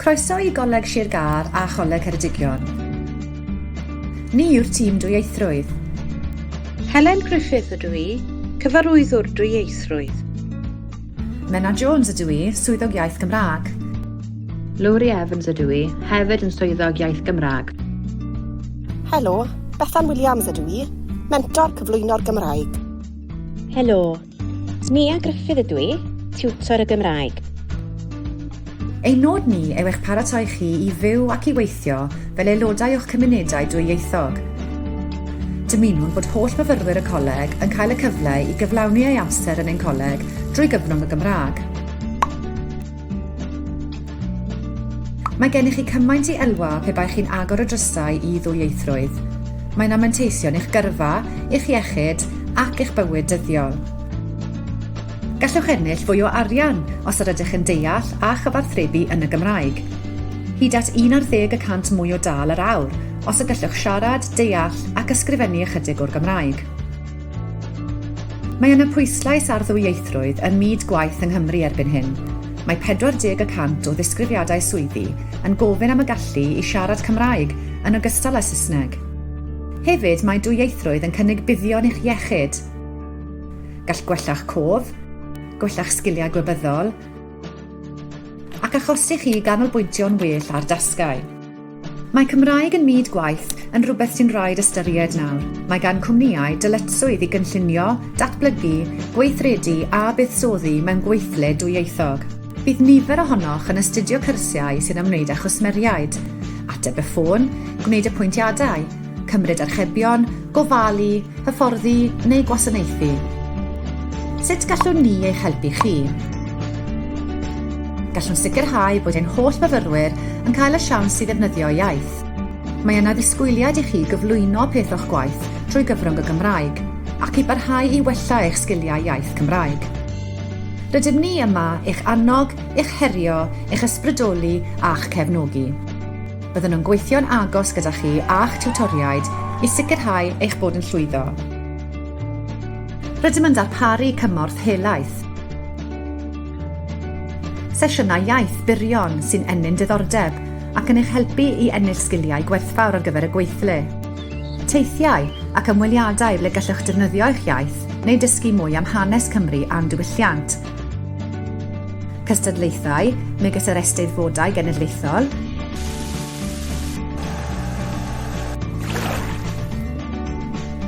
Croeso i Goleg Sir Gâr a Choleg Ceredigion. Ni yw'r tîm dwyieithrwydd. Helen Griffith ydw i, cyfarwyddwr dwyieithrwydd. Menna Jones ydw i, swyddog iaith Gymraeg. Lowri Evans ydw i, hefyd yn swyddog iaith Gymraeg. Helo, Bethan Williams ydw i, mentor cyflwyno'r Gymraeg. Helo, Nia Gruffydd ydw i, tiwtor y Gymraeg. Ein nod ni yw eich paratoi chi i fyw ac i weithio fel aelodau o'ch cymunedau dwyieithog. Dymunwn bod holl fyfyrwyr y Coleg yn cael y cyfle i gyflawni eu amser yn ein Coleg drwy gyfrwng y Gymraeg. Mae gennych chi cymaint i elwa pe baech chi'n agor y drysau i ddwyieithrwydd. Mae'n am manteision i'ch gyrfa, i'ch iechyd ac i'ch bywyd dyddiol. Gallwch ennill fwy o arian os yr ydych yn deall a chyfathrebu yn y Gymraeg. Hyd at 11 y cant mwy o dâl yr awr os y gallwch siarad, deall ac ysgrifennu ychydig o'r Gymraeg. Mae yna pwyslais ar ddwyieithrwydd ym myd gwaith yng Nghymru erbyn hyn. Mae 40 y cant o ddisgrifiadau swyddi yn gofyn am y gallu i siarad Cymraeg yn ogystal â Saesneg. Hefyd, mae dwyieithrwydd yn cynnig buddion i'ch iechyd. Gall gwella'ch cof, gwella'ch sgiliau gwybyddol, ac achosi chi i ganolbwyntio'n well ar dasgau. Mae Cymraeg yn myd gwaith yn rhywbeth sy'n rhaid ystyried nawr. Mae gan cwmnïau dyletswydd i gynllunio, datblygu, gweithredu a buddsoddi mewn gweithle dwyieithog. Bydd nifer ohonoch yn astudio cyrsiau sy'n ymwneud â chwsmeriaid, ateb y ffôn, gwneud apwyntiadau, Cymryd archebion, gofalu, hyfforddi neu gwasanaethu. Sut gallwn ni eich helpu chi? Gallwn sicrhau bod ein holl fyfyrwyr yn cael y siawns i ddefnyddio iaith. Mae yna ddisgwyliad i chi gyflwyno peth o'ch gwaith trwy gyfrwng y Gymraeg ac i barhau i wella eich sgiliau iaith Cymraeg. Rydym ni yma i'ch annog, i'ch herio, i'ch ysbrydoli a'ch cefnogi. Byddwn yn gweithio'n agos gyda chi a'ch tiwtoriaid i sicrhau eich bod yn llwyddo. Rydym yn darparu cymorth helaeth. Sesiynau iaith byrion sy'n ennyn diddordeb ac yn eich helpu i ennill sgiliau gwerthfawr ar gyfer y gweithle. Teithiau ac ymweliadau ble gallwch defnyddio eich iaith neu dysgu mwy am hanes Cymru a'n diwylliant. Cystadlaethau, megis yr Eisteddfodau Genedlaethol,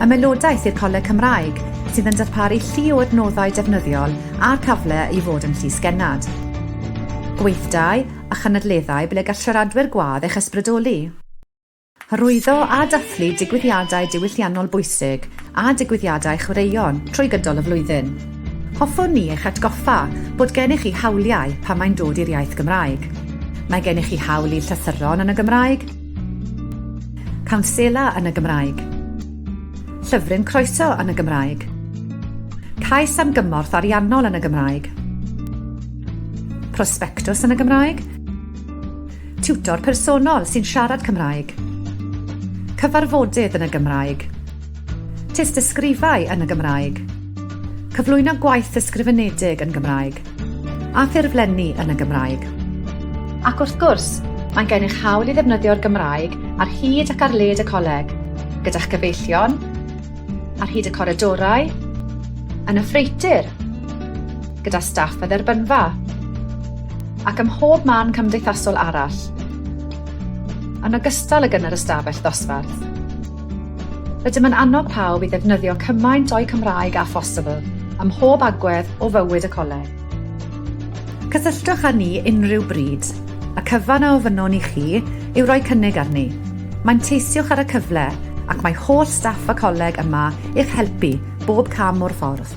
Ymaelodaeth i'r Coleg Cymraeg, sydd yn darparu llu o adnoddau defnyddiol a cyfle i fod yn llysgennad. Gweithdai a chynadleddau ble gall siaradwyr gwadd eich ysbrydoli. Hyrwyddo a dathlu digwyddiadau diwylliannol bwysig a digwyddiadau chwaraeon trwy gydol y flwyddyn. Hoffwn ni eich atgoffa bod gennych chi hawliau pan mae'n dod i'r iaith Gymraeg. Mae gennych chi hawl i llythyron yn y Gymraeg, cawnsela yn y Gymraeg, llyfryn croeso yn y Gymraeg, cais am gymorth ariannol yn y Gymraeg, prosbectws yn y Gymraeg, Tiwtor personol sy'n siarad Cymraeg. Cyfarfodydd yn y Gymraeg. Tystysgrifau yn y Gymraeg. Cyflwyno gwaith ysgrifenedig yn Gymraeg. A ffurflenni yn y Gymraeg. Ac wrth gwrs, mae'n gennych hawl i ddefnyddio'r Gymraeg ar hyd ac ar led y coleg, gyda'ch cyfeillion, ar hyd y coridorau, yn y ffreutur, gyda staff a dderbynfa, ac ym mhob man cymdeithasol arall, yn ogystal ag yn yr ystafell ddosbarth. Rydym yn annog pawb i ddefnyddio cymaint o'u Cymraeg â phosibl ym mhob agwedd o fywyd y coleg. Cysylltwch â ni unrhyw bryd. Y cyfan a ofynnwn i chi yw rhoi cynnig arni. Manteisiwch ar y cyfle, ac mae holl staff y coleg yma i'ch helpu Bob cam o'r ffordd.